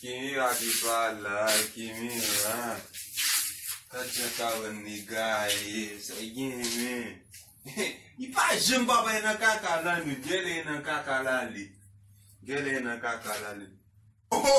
Kimi rate pa la Kimi an Gad jan Karan egaye Sa li gen men Li pa janm pa bay nan kaka la nou Genlè li nan kaka la ale Genlè li nan kaka la ale Ho ho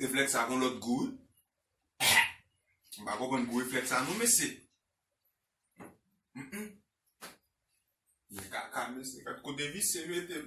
Reflèks sa gon lòt gou wi. M pa konprann gou reflèks sa non mesye. Mwen kaka mesye, gad kote visye mete m.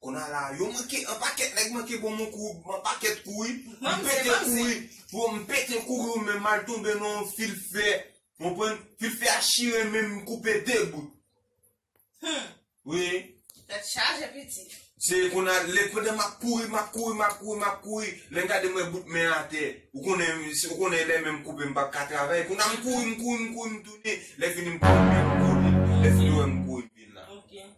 Kona la yo manke anpaket neg manke bon mwen kou anpaket kou wi m pete kou wi bro m pete kou wi men mal tonbe nan yon fil fè ou konprann fil fè a chire men m koupe 2 bout humm wi Tèt chaje piti. Se kona le pandan map kouri map kouri map kouri map kouri lèm gade m wè bout men atè ou konnen ou konnen lè men m koupe m pap ka travay kona m kouri m kouri m kouri m tounen lè fini m pran men m kole lè fini wè m kouri m vin la.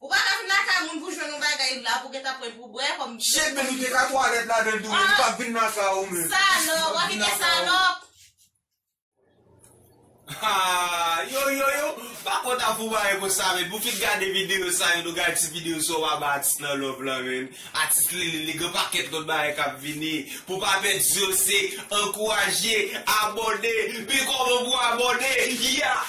Ou pa ka vin lakay moun pou jwenn yon bagay ou la pou gentan pran pou bwè kòm bgy. Shit men nou te ka twalèt ladanl tou men li pap vin lakay ou men. Salòp wap vin gen salòp. Haa yo yo yo pa kontan pou bagay konsa men pou ki gade video sa yo nou gade ti video sa yo pa bay atis nan love lan men atis lele li gen pakèt lòt bagay kap vini pou pa pèdi yo se ankouraje abòne men kòman pou abòne yah.